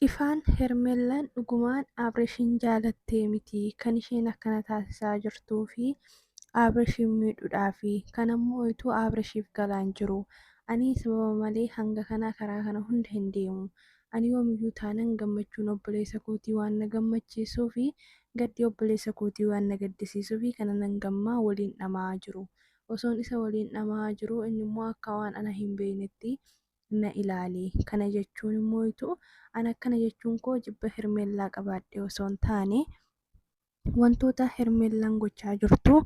Ifaan Hermellan dhugumaan Abrishin jaalattee miti kan isheen akkana taasisaa jirtuu fi Abrishin miidhudhaa fi kan ammoo oytuu Abrishiif galaan jiru ani sababa malee hanga kanaa karaa kana hunda hin deemu ani yoomiyyuu taanan gammachuun obboleessa kootii waan na gammachiisuu fi gaddi obboleessa kootii waan na gaddisiisuu fi kana nan gammaa waliin dhama'aa jiru osoon isa waliin dhama'aa jiru inni immoo akka waan ana hin beeynetti na ilaali. Kana jechuun immoo ituu an akkana jechuun koo jibba Hermeellaa qabaadhee osoo hin taane wantoota Hermeellaan gochaa jirtu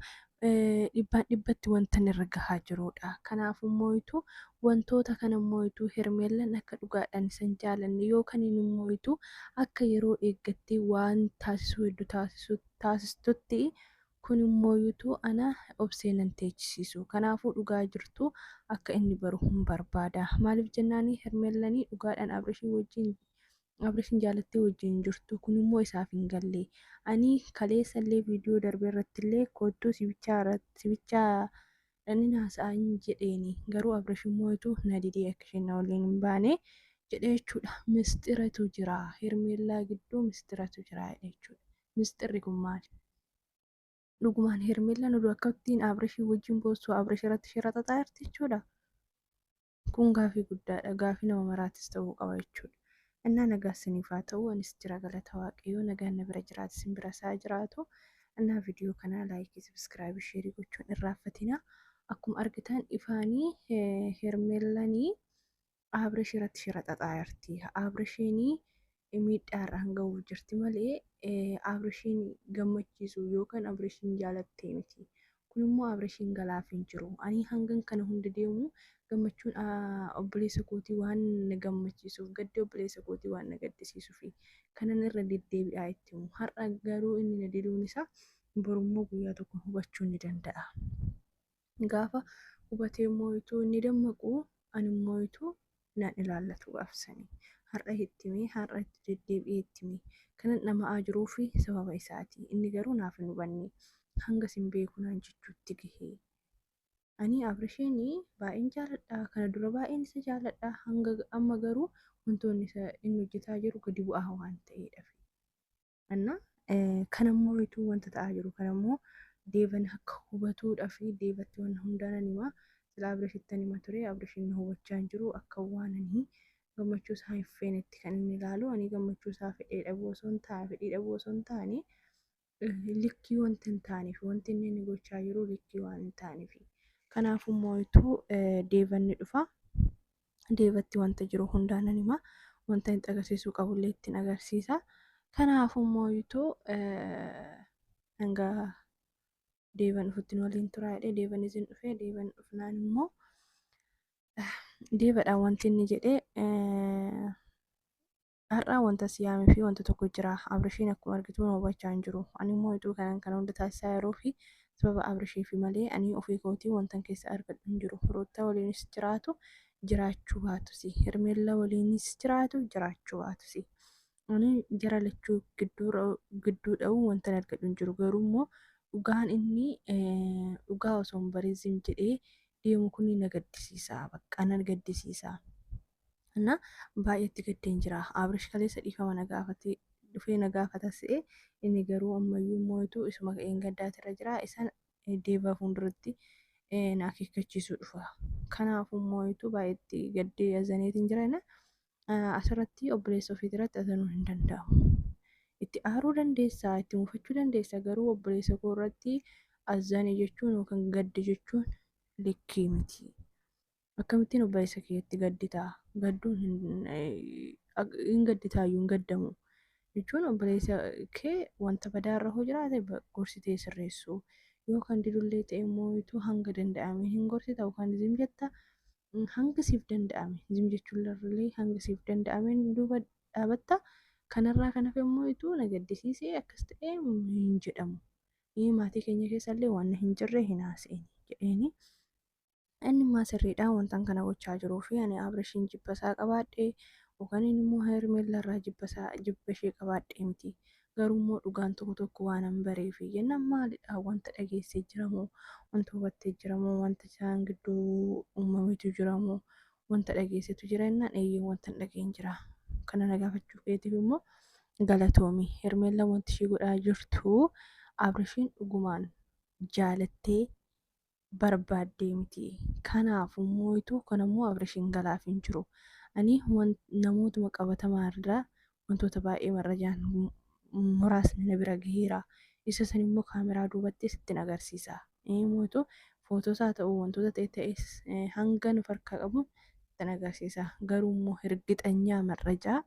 dhibbaan dhibbatti wanta irra gahaa jiruudha. Kanaaf immoo ituu wantoota kana immoo ituu Hermeellaan akka dhugaadhaan isan jaalanne yookaan immoo ituu akka yeroo eeggattee waan taasisuu heddu taasistutti Kun immoo utuu ana obsee nan teechisiisu. Kanaafuu dhugaa jirtu akka inni baru hin barbaada. Maaliif jennaani Hermeellani dhugaadhaan Abrishii wajjin Abrishin jaalattee wajjin hin jirtu. Kun immoo isaaf hin galle. Ani kaleessa illee viidiyoo darbe irratti illee koottuu sibichaa sibichaa dhannin haasa'aa hin jedheeni. Garuu Abrish immoo utuu na didee akka isheen na waliin hin baane jedhe jechuudha. Misxiratu jira. Hermeellaa gidduu misxiratu jira jechuudha. misxirri kun maali? Dhugumaan Hermeellaan oduu akkattiin Abrishii wajjin boossuu Abrish irratti shira xaxaa jirti jechuudha. Kun gaafii guddaadha. Gaafii nama maraatis ta'uu qaba jechuudha. Innaa nagaa isiniif haa ta'u anis jira galata waaqayyoo nagaan na bira jiraate isin bira isaa jiraatu. Innaa viidiyoo kanaa laayikii sabiskiraabii sheerii gochuun irraaffatina. Akkuma argitan ifaanii Hermeellanii Abrish irratti shira xaxaa jirti. Abrishiin miidhaa irraan gahuuf jirti malee Abrishiin gammachiisu yookaan Abrishiin jaalattee miti. Kun immoo Abrishiin galaaf hin jiru. Ani hangan kana hunda deemu gammachuun obboleessa kootii waan na gammachiisuuf gaddi obboleessa kootii waan na gaddisiisuuf kanan irra deddeebi'aa itti himu. Har'a garuu inni na diduun isaa borummoo guyyaa tokko hubachuu ni danda'a. Gaafa hubatee mooyituu inni dammaqu ani mooyituu nan ilaallatu gaafsanii. Har'a itti mee har'a itti deddeebi'ee itti mee kanan dhama'aa jiruu fi sababa isaati. Inni garuu naaf hin hubanne hanga sin beeku naan jechuutti gahee. Ani Abrishiin baay'een jaaladha kana dura baay'een isa jaaladha hanga amma garuu wantoonni inni hojjetaa jiru gadi bu'aa waan ta'eedhafi. Anna kan ammoo ituu wanta ta'aa jiru kan ammoo deevan akka hubatuudha fi deevatti waan hundaanan himaa sila abirashittan hima ture abirashin na hubachaa hin jiru akka waananii gammachuu isaa hin feenetti kan inni ilaalu ani gammachuu isaa fedhee dhabuu osoo hin taane fedhii dhabuu osoo hin taane likkii wanti hin taaneef wanti inni inni gochaa jiru likkii waan hin taaneef kanaaf immoo ituu deevanni dhufa deebatti wanta jiru hundaa nan hima wanta itti agarsiisuu qabullee ittiin agarsiisa kanaafuu immoo yuutuu hanga deeban dhufuttiin waliin turaa jedhee deeban isin dhufee deeban dhufnaan immoo deebadhaan wanti inni jedhee Har'a wanta si yaamee fi wanta tokko jira. Abrishiin akkuma argitu na hubachaa hin jiru. Ani immoo ituu kanan kana hunda taasisaa yeroo fi sababa Abrishiifi malee ani ofii kootii wantan keessa argadhu hin jiru. Ruuttaa waliinis jiraatu jiraachuu baatusi. Hermeellaa waliinis jiraatu jiraachuu baatusi. Ani jara lachuu gidduu dha'uu wantan argadhu hin jiru. Garuu immoo dhugaan inni dhugaa osoo hin barin zim jedhee deemu kun na gaddisiisa. Bakka na gaddisiisa. እና baay'eetti gaddeen jira abrish kaleessa dhiifama na gaafate dhufee na gaafata se'e inni garuu ammayyuu mootu isuma ka'een gaddaatira jira isan deeva fuulduratti na akeekkachiisuu dhufa kanaafuu mootu baay'eetti gaddee azaneetiin jira inni asirratti obboleessa ofiitirratti azanuu hin danda'amu itti aaruu dandeessaa itti muufachuu dandeessa garuu obboleessa koo irratti azane jechuun yookaan gadde jechuun likkii miti. akkamittiin obboleessa keetti gaddita gadduun hin hin gadditaayyuu hin gaddamu jechuun obboleessa kee wanta badaa irra hoo jiraate ba- gorsitee sirreessuu yoo kan didullee ta'e immoo ituu hanga danda'ame hin gorsita yookaan zim jetta Mm, hanga siif danda'ame zim jechuun illee hanga siif danda'ameen duuba dhaabatta kanarraa kan hafe immoo ituu na gaddisiisee akkas ta'e mm, hin jedhamu Ee, maatii keenya keessallee waan hin jirre hin haasa'in jedheeni Inni immaa sirriidha wantan kana gochaa jiruu fi ani Abrishiin jibba isaa qabaadhe yookaan inni immoo Hermeella irraa jibba isaa jibba ishee qabaadhe miti garuu immoo dhugaan tokko tokko waan an baree fi jennaan maalidha wanta dhageessee jiramoo wanta hubattee jiramoo wanta isaan gidduu uumametu jiramoo wanta dhageessetu jira jennaan eeyyee wanta hin dhageen jira kana na gaafachuu keetiif immoo galatoomi Hermeella wanti ishee godhaa jirtu Abrishiin dhugumaan jaalattee barbaaddee miti. Kanaafuu mooyituu kun ammoo Abrishiin galaaf hin jiru. Ani namootuma qabatamaa irraa wantoota baay'ee marrajaan muraasni na bira gaheera. Isa san immoo kaameraa duubatti sittin agarsiisa. Mooyituu footoos haa ta'u wantoota ta'e ta'es hanga nu farkaa qabu sittin agarsiisa. Garuu immoo hirgixanyaa marrajaa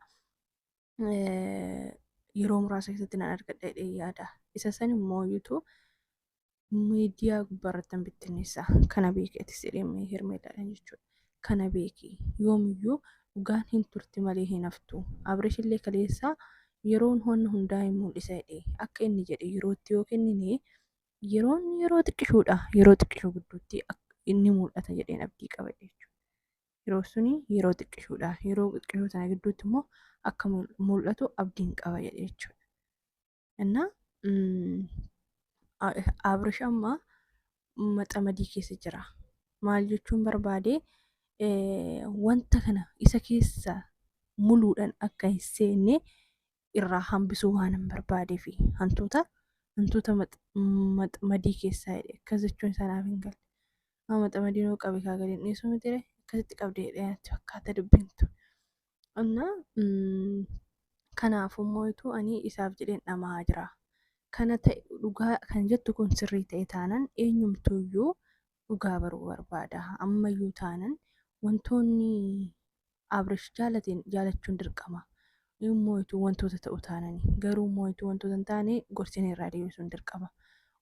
yeroo muraasa keessatti nan argadha jedhee yaada. Isa san immoo iyyuu miidiyaa gubbaarratti hin bittinneessa. Kana beeki atis jedhee Hermeellaadhaan jechuudha. Kana beeki yoomiyyuu dhugaan hin turti malee hin haftu. Abresh illee kaleessaa yeroon wanna hundaa hin mul'isa jedhee akka inni jedhe yerootti yoo kennine yeroon yeroo xiqqishuudha. Yeroo xiqqishuu gidduutti inni mul'ata jedheen abdii qaba jechuudha. yeroo suni yeroo xiqqishuudha. Yeroo xiqqishuu sana gidduutti immoo akka mul'atu abdiin qaba jedhe jechuudha. Innaa Abrish amma maxamadii keessa jira. Maal jechuun barbaade wanta kana isa keessa muluudhaan akka hin seenne irraa hambisuu waanan barbaadeef hantuuta hantuuta max- max- madii keessaa jedhe akkas jechuun isaa naaf hin galle amma maxamadiin hoo qabe kaa gadi hin dhiisu miti ree akkasitti qabde jedhee natti fakkaata dubbiin tun anna mm, kanaafuu immoo utuu ani isaaf jedheen dhama'aa jira kana ta'e dhugaa kan jettu kun sirrii ta'e taanan eenyumtuuyyuu dhugaa baruu barbaada. Ammayyuu taanan wantoonni Abrish jaalateen jaalachuun dirqama. Moo'ituu wantoota ta'u taanani. Garuu moo'ituu wantoota hin taane gorsinee irraa deebisuun dirqama.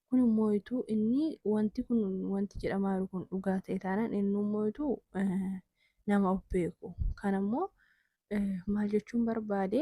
Kun moo'ituu inni wanti kun wanti jedhamaa jiru kun dhugaa ta'e taanan inni moo'ituu nama of beeku. Kan ammoo maal jechuun barbaade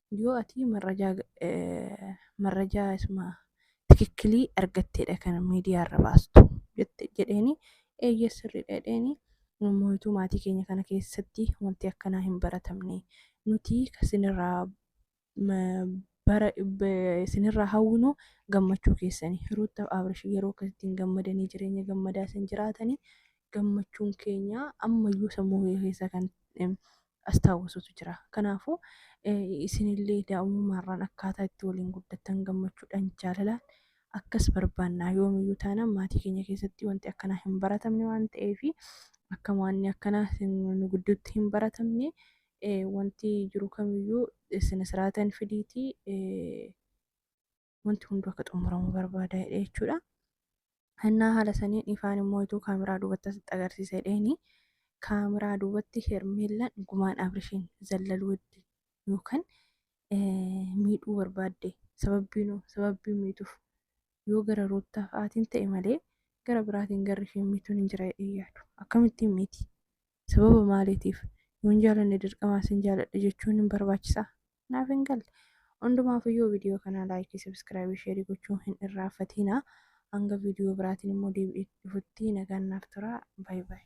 yoo ati marrajaa eh, marrajaa isuma tikikkilii argatteedha kan miidiyaa irra baastu jette jedheeni eeyyee sirriidha jedheeni mooytuu maatii keenya kana keessatti wanti akkanaa hin baratamne nuti kasinirraa ma- bara be- isinirraa hawwinu gammachuu keessani ruuttaaf abrish yeroo akkasitti hin gammadanii jireenya gammadaa isin jiraatanii gammachuun keenya ammayyuu sammuu kee keessa kan em, astaawwisutu jira. Kanaafuu isinillee daa'umummaarraan akkaataa itti waliin guddattan gammachuudhaan jaalalaan akkas barbaannaa yoomiyyuu taanaan maatii keenya keessatti wanti akkanaa hin baratamne waan ta'eef akka waanni akkanaa nu gidduutti hin baratamne wanti jiru kamiyyuu sina siraatan fidiitii wanti hunduu akka xumuramu barbaada jedhe jechuudha. Hannaa haala saniin ifaan immoo ituu kaameraa duubatti asitti agarsiisa jedheeni kaameraa duubatti hermeellaan gumaan abrishiin zallaluu hedde yookaan miidhuu barbaadde sababbiinuu sababbii miituuf yoo gara ruuttaa fa'aatiin ta'e malee gara biraatiin garri isheen miituun hin jira jedhee yaadu akkamittiin miiti Sababa maaliitiif? Yoo hin jaalanne dirqamaa sin jaaladha jechuun hin barbaachisaa? Naaf hin galle. Hundumaafuu yoo viidiyoo kanaa laayikii, sabiskiraabii, sheerii gochuu hin irraanfatiinaa. Hanga viidiyoo biraatiin immoo deebi'ee dhufutti nagaan naaf turaa. Baay baay.